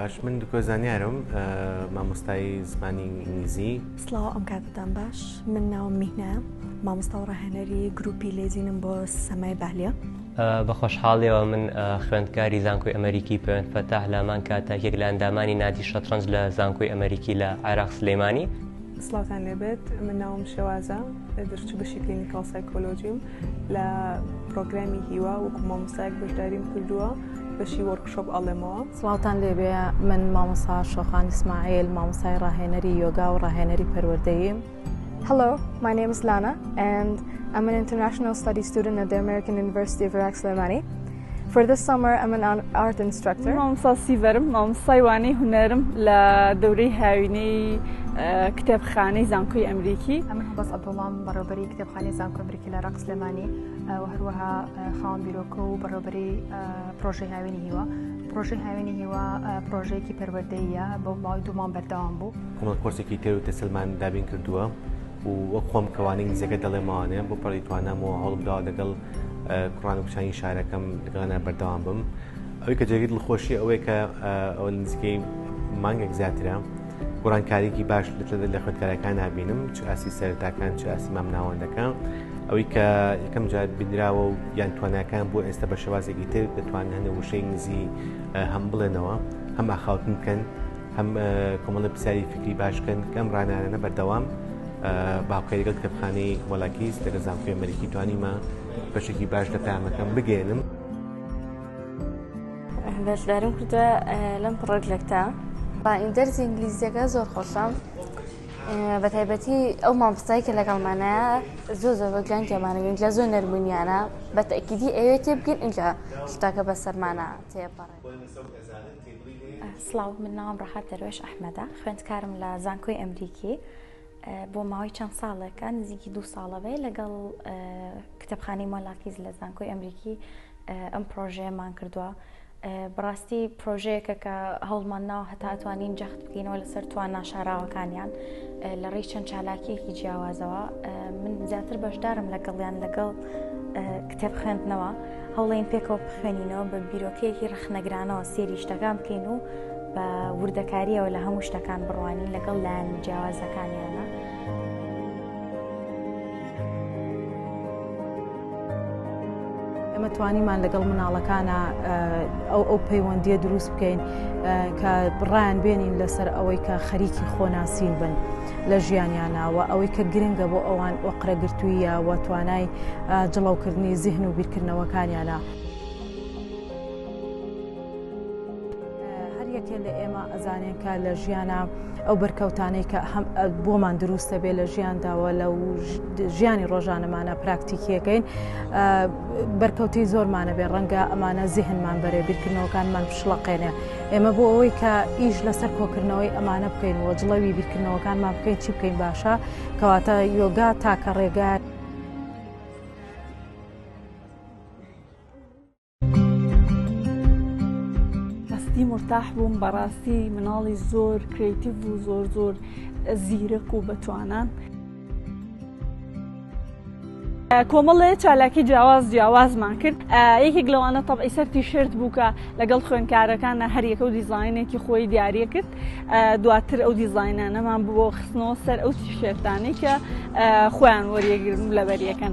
باش من دکۆ زانیارم مامۆستای زمانی ئینگلیزی سلااو ئەم کاتتان باش من ناوم میهنە مامۆستا و ڕاهێنەری گروپی لێزینم بۆ سەمای بالە بە خۆشحاڵیەوە من خوێندکاری زانکۆی ئەمریکی پێوەند فەتاح لامان کاتاکێک لە ئەندامانی نادی شەترەنج لە زانکۆی ئەمریکی لە عێراق سلەیمانی سڵاوتان لێبێت من ناوم شێوازە دەرچوو بەشی کلینیکاڵ سایکۆلۆژیم لە پرۆگرامی هیوا وەکو مامۆستایەک بەشداریم کردووە بەشی وەرکشۆپ ئەڵێمەوە سڵاوتان لێبێ من مامۆسا شۆخان ئیسماعیل مامۆسای ڕاهێنەری یۆگا و ڕاهێنەری پەروەردەییم. Hello, my name is Lana and I'm an international study student at the American University of Iraq Slemani. For this summer I'm an art instructor. مامۆستا سیڤەرم مامۆستای وانەی هونەرم لە دەورەی هاوینەی کتێبخانەی زانکۆی ئەمریکی ئەمە بەس ئەبڵام بەڕێبەری کتێبخانەی زانکۆ ئەمریکی لە ڕق سلێمانی و هەروەها خاوەن بیرۆکە و بەڕێبەری پرۆژەی هاوینی هیوە پرۆژەی هاوینی هیوە پرۆژەیەکی پەروەدەیە بۆ ماوەی دوومان بەردەوام بوو هەمە کۆرسێکی تێر و تەسلمان دابین کردووە و وەک خۆم کەوانی نزیەکە دەڵێمانێ بۆ پڕی توانامەوە هەڵبدا دەگەڵ کوڕان و کچانی شارەکەم لەگەڵنا بەردەوام بم ئەوەی کە جێگەی دڵخۆشی ئەوەیە کە ئەو نزیکەی مانگێک زیاترە گۆڕانکاریکی باش لە خوێندکارەکان نبینم چ ئاسی سەرتاکان چ ئاسی مام ناوەندەکان ئەوەی کە یەکەم جار بینراوە و یان تواناکان بۆ ئێستا بە شێوازێکی تر دەتوانن هەنێ وشەی نزی هەم بڵێنەوە هەم ئاخاوتن بکەن هەم کۆمەڵە پرسیاری فکری باشکەن کەم ڕانانە بەردەوام باوکەریگە کتێبخانەی وەلاکیس لەگە زانکۆی ئەمریکی توانیمە بەشێکی باش لە پامەکەم بگەێنم بەشدارم کردوە لەم پڕۆژێکتا با ئیندەرزی ئینگلیزیەکە زۆر خۆشم بە تایبەتی ئەو مامۆستای کە لەگەڵمانە زۆ زۆ بەگیان کێمانە ئینجا زۆر نەرمونیانە بە تەکیدی ئەوێ تێ بگەن ئینجا شتاکە بە سەرمانە تێپەڕ سڵاو من ناوم ڕەحەت دەروێش ئەحمەدە خوێندکارم لە زانکۆی ئەمریکی بۆ ماوەی چەند ساڵێکە نزیکی دوو ساڵە بێ لەگەڵ کتێبخانەی مۆلاکیز لە زانکۆی ئەمریکی ئەم پرۆژەیەمان کردووە بڕاستی پرۆژەیەکە کە هەوڵمان ناوە هەتاتوانین جەخت بکەینەوە لەسەر توانا شاراوەکانیان لە ڕێی چەند چالاکیەکی جیاوازەوە من زیاتر بەشدارم لەگەڵیان لەگەڵ کتێب خوێندنەوە هەوڵین پێکەوە بخوێنینەوە بە بیرۆکەیەکی ڕخنەگرانەوە سێری شتەکان بکەین و بە وردەکاریەوە لە هەموو شتەکان بڕوانین لەگەڵ لایەن جیاوازەکانیانە. ئێمە توانیمان لەگەڵ مناڵەکانە ئەو ئەو پەیوەندیە دروست بکەین کە بڕیان بێنین لەسەر ئەوەی کە خەریکی خۆناسین بن لە ژیانیانناوە ئەوەی کە گرنگە بۆ ئەوان ئۆقرەگرتوویە و توانای جڵەوکردنی زیهن و بیرکردنەوەکانیانە. هەریەکێ لە ئێمە ئەزانێن کە لە ژیانە ئەو بەرکەوتانەی کە بۆمان دروستە بێ لە ژیانداوە لە ژیانی ڕۆژانەمانە پراکتیکیەکەین بەرکەوتی زۆرمانە بێ ڕەنگە ئەمانە زیهنمان بەرێ بیرکردنەوەکانمان پشڵەقێنێ ئێمە بۆ ئەوەی کە ئیش لەسەر کۆکردنەوەی ئەمانە بکەین و جڵەوی بیرکردنەوەکانمان بکەین چی بکەین باشە کەواتە یۆگا تاکە ڕێگات هەستی مرتاح بووم بەڕاستی مناڵی زۆر کرێتیڤ و زۆر زۆر زیرەک و بەتوانان. کۆمەڵێ چالاکی جیاواز جیاوازمان کرد یەکێک لەوانە تەبعی سەر تیشرت بووکە لەگەڵ خوێنکارەکانە هەریەکە و دیزینێکی خۆی دیارە کرد دواتر ئەو دیزینانەمان بۆ خستنەوە سەر ئەو تیشێرتانی کە خۆیان وەریەگرن و لەبەریەکەن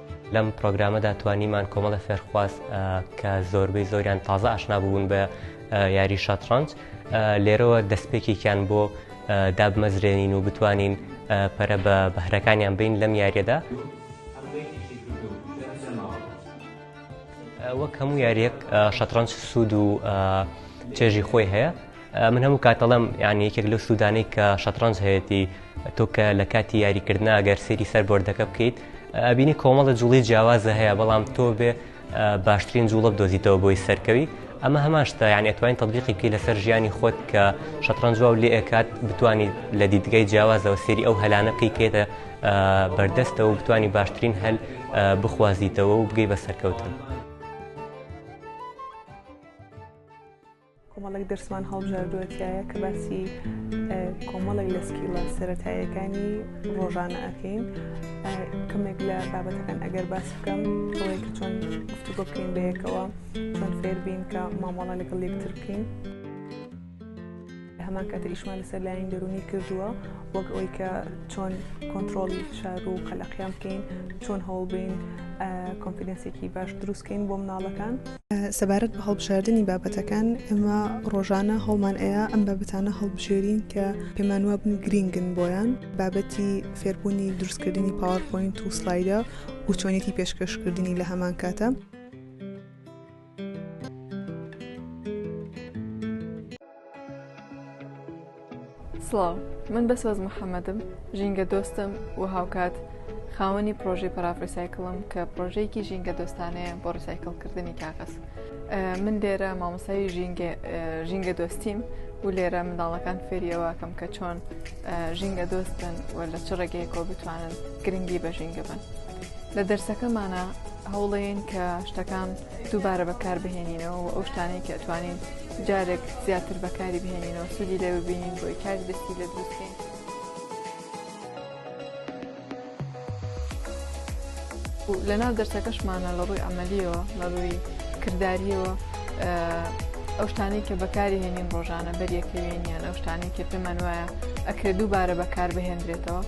لەم پرۆگرامەدا توانیمان کۆمەڵە فێرخواز کە زۆربەی زۆریان تازە ئاشنا بوون بە یاری شەتڕەنج لێرەوە دەستپێکێکیان بۆ دابمەزرێنین و بتوانین پەرە بە بەهرەکانیان بین لەم یاریەدا وەک هەموو یاریەک شەتڕەنج سوود و چێژی خۆی هەیە من هەموو کات دەڵێم یعنی یەکێک لەو سوودانەی کە شەتڕەنج هەیەتی تۆ کە لە کاتی یاریکردن ئەگەر سێری سەر بۆردەکە بکەیت ئەبینی کۆمەڵە جوڵی جیاوازە هەیە بەڵام تۆ بێ باشترین جوڵە بدۆزیتەوە بۆی سەرکەوی ئەمە هەماشتا یعنی ئەتوانین تطببیقی بکەی لەسەر ژیانی خۆت کە شەتڕەنج و لێ ئەکات بتانی لە دیدگای جیاوازەوە سێری ئەو هەلانە بکەیتە بەردەستەوە و بتانی باشترین هەل بخوازیتەوە و بگەی بە سەرکەوتن. کۆمەڵێک دەرسمان هەڵبژاردووە تایە کە باسی کۆمەڵێک لە سکیڵە سەتایەکانی ڕۆژانە ئەکەین کەمێک لە بابەتەکان ئەگەر باس بکەم ئەوەیە کە چۆن گفتو بکەین بەیەکەوە چۆن فێربین کە مامەڵە لەگەڵ یەکتر بکەین. هەمان کاتە ئیشمان لەسەر لایەن دەرونی کردووە وەک ئەوی کە چۆن کۆنتترۆلی فشار و قەلەقیان بکەین چۆن هەوڵبین کۆنفیدنسێکی باش دروستکەین بۆ مناڵەکان. سەبارەت بە هەڵبژاردنی بابەتەکان ئەمە ڕۆژانە هەڵمان ئەیە ئەم بابەتانە هەڵبژێرین کە پێمان وابن و گرینگن بۆیان بابەتی فێربوونی دروستکردنی پاوەرپۆینت و سلایدە و چۆنێتی پێشکەشکردنی لە هەمان کاتە سڵاو من بەسۆز محەممەدم ژینگە دۆستم و هاوکات خاوەنی پرۆژەی پەرافریسایکڵم کە پرۆژەیەکی ژینگە دۆستانەیە بۆ ڕسایکڵکردنی کاغەز من لێرە مامۆسایی ژینگە دۆستیم و لێرە منداڵەکان فێریەوەکەم کە چۆن ژینگە دۆست بن و لە چ ڕێگەیەکۆ بتوانن گرنگی بە ژینگە بن لە دەرسەکەمانە هەوڵێن کە شتەکان بە دووبارە بەکاربهێنینەوە و ئەو شتانەی کە ئەتوانین جارێک زیاتر بەکاری بهێنینەوە سوودی لێ ببینین بۆی کاری دەستی لێ دروستکەین. لەناو دەرسەکەشمانە لە ڕووی ئەمەلیەوە لە ڕووی کردداریەوە ئەو شتانەی کە بەکاری هێنین ڕۆژانە بەریەکەوێن یان ئەو شتانەی کە پێمان وایە ئەکرێ دووبارە بەکار بهێنرێتەوە.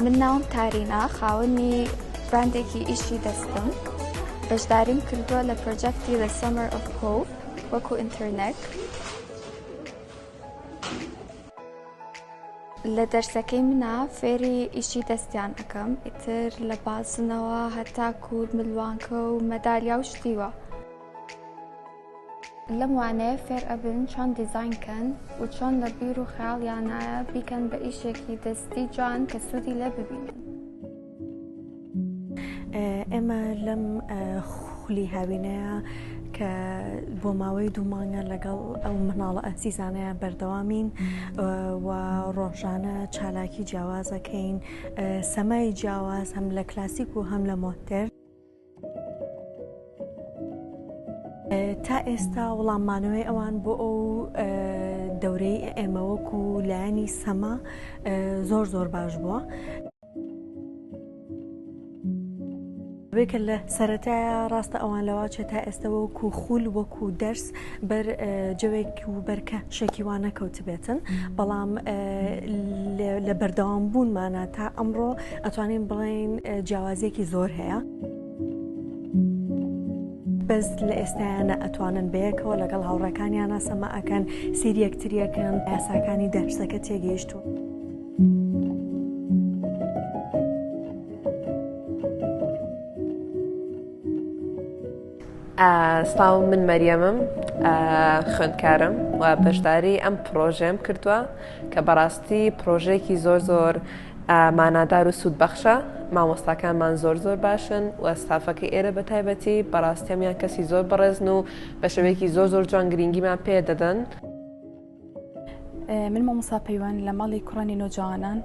من ناوم تارینا خاوەنی براندێکی ئیشی دەستم بەشداریم کردووە لە پرۆجەکتی لە سەمەر ئۆف هۆپ وەکو ئینتەرنێک لە دەرسەکەی منا فێری ئیشی دەستیان ئەەکەم ئیتر لە بازنەوە هەتا کوور ملوانکە و مەدالیا و شتیوە لەم وانەیە فێر ئەبن چۆن دیزین کەن و چۆن لە بیر و خیاڵیانایە بیکەن بە ئیشێکی دەستی جوان کە سوودی لێ ببینن. ئێمە لەم خولی هاوینەیە کە بۆ ماوەی دوو مانگە لەگەڵ ئەو مناڵە ئەسیزانەیە بەردەوامین و ڕۆژانە چالاکی جیاوازەکەین سەمای جیاواز هەم لە کلاسیک و هەم لە مۆتر. تا ئێستا وڵاممانەوەی ئەوان بۆ ئەو دەورەی ئێمەوەک و لایەنی سەما زۆر زۆر باش بووە. بێکە لە سەتایە ڕاستە ئەوان لەواچێت تا ئێستەوە و کوخول وەکو دەرس بەر جەوێک و بەرکە شەکی وا نەکەوتبێتن بەڵام لە بەردەوام بوونمانە تا ئەمڕۆ ئەتوانین بڵین جیاوازیەکی زۆر هەیە. بەس لە ئێستایانە ئەتوانن بەیەکەوە لەگەڵ هاوڕەکانیانە سەما ئەکەن سیری یەکتریەکەن یاساکانی دەرسەکە تێگەیشتون. سڵاو من مەریەمم خوێندکارم و بەشداری ئەم پرۆژەم کردووە کە بەڕاستی پرۆژێکی زۆر زۆر مانادار و سوود بەخشە مامۆستاکانمان زۆر زۆر باشن و ستافەکە ئێرە بە تایبەتی بەڕاستەمیان کەسی زۆر بەڕێزن و بە شێوەیەکی زۆر زۆر جوان گرنگیمان پێ دەدەن. من مامۆسا پەیوەند لە ماڵی کوڕانی نۆجوانان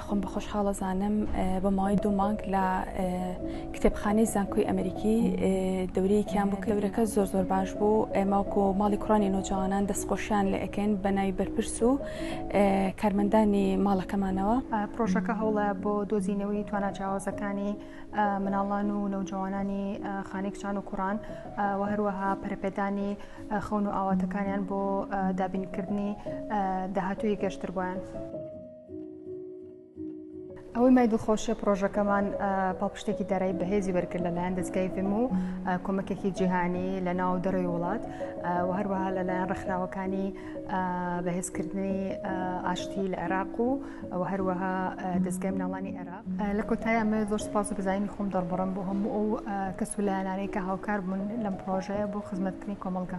خۆم بە خۆشحاڵە زانم بە ماوەی دوو مانگ لە کتێبخانەی زانکۆی ئەمریکی دەورەیەکیان بۆ کلورەکە زۆر زۆر باش بوو ئەماکۆ ماڵی کوڕانی نۆجوانان دەستخۆشیان لە ئەکەین بە ناوی بەرپرس و کارمەندانی ماڵەکەمانەوە پرۆژەکە هەوڵە بۆ دۆزینەوەی توانە جیاوازەکانی مناڵان و نەوجوانانی خانەی کچان و کوڕان و هەروەها پەرپێدانی خەون و ئاواتەکانیان بۆ دابینکردنی داهاتوی گەشتر بۆیان. ئەوەی مای دڵخۆشیە پرۆژەکەمان پاڵپشتێکی دارایی بەهێزی وەرگر لەلایەن دەستگای فم و کۆمەکێکی جیهانی لە ناو دەرەوەی وڵات و هەروەها لەلایەن ڕخراوەکانی بەهێزکردنی ئاشتی لە عێراق و ئەوە هەروەها دەستگای مناڵانی عێراق لە کۆتای ئەمە زۆر سپاس و بزانینی خۆم دەڕبڕم بۆ هەموو ئەو کەس و لایەنانەی کە هاوکار بوون لەم پرۆژەیە بۆ خزمەتکردنی کۆمەڵگە.